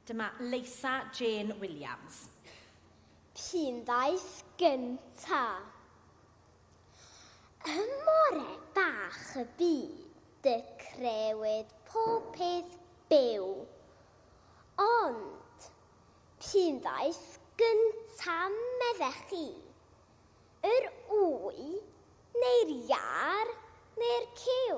Dyma Leisa Jane Williams. P'un ddaeth gynta'? Ym more bach y byd y crewyd pob peth byw. Ond, p'un ddaeth gynta' meddech chi? Yr ŵy neu'r iâr neu'r cyw?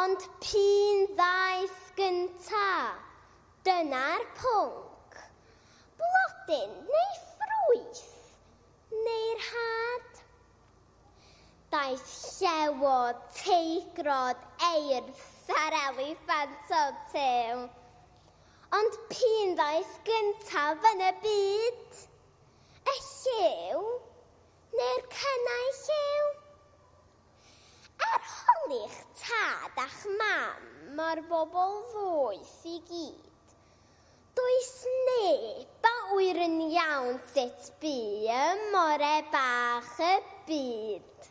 Ond p'un ddaeth gynta? Dyna'r pwnc. Blodyn neu ffrwyth? Neu'r had? Daeth llewod, teigrod, eirth a'r eliffant o Tim. Ond p'un ddaeth gyntaf yn y byd? Y lliw? Neu'r cynnau lliw? Arholi'ch tad a'ch mam a'r bobl ddoeth i gyd. Does neb a ŵyr yn iawn sut bu ym ore bach y byd.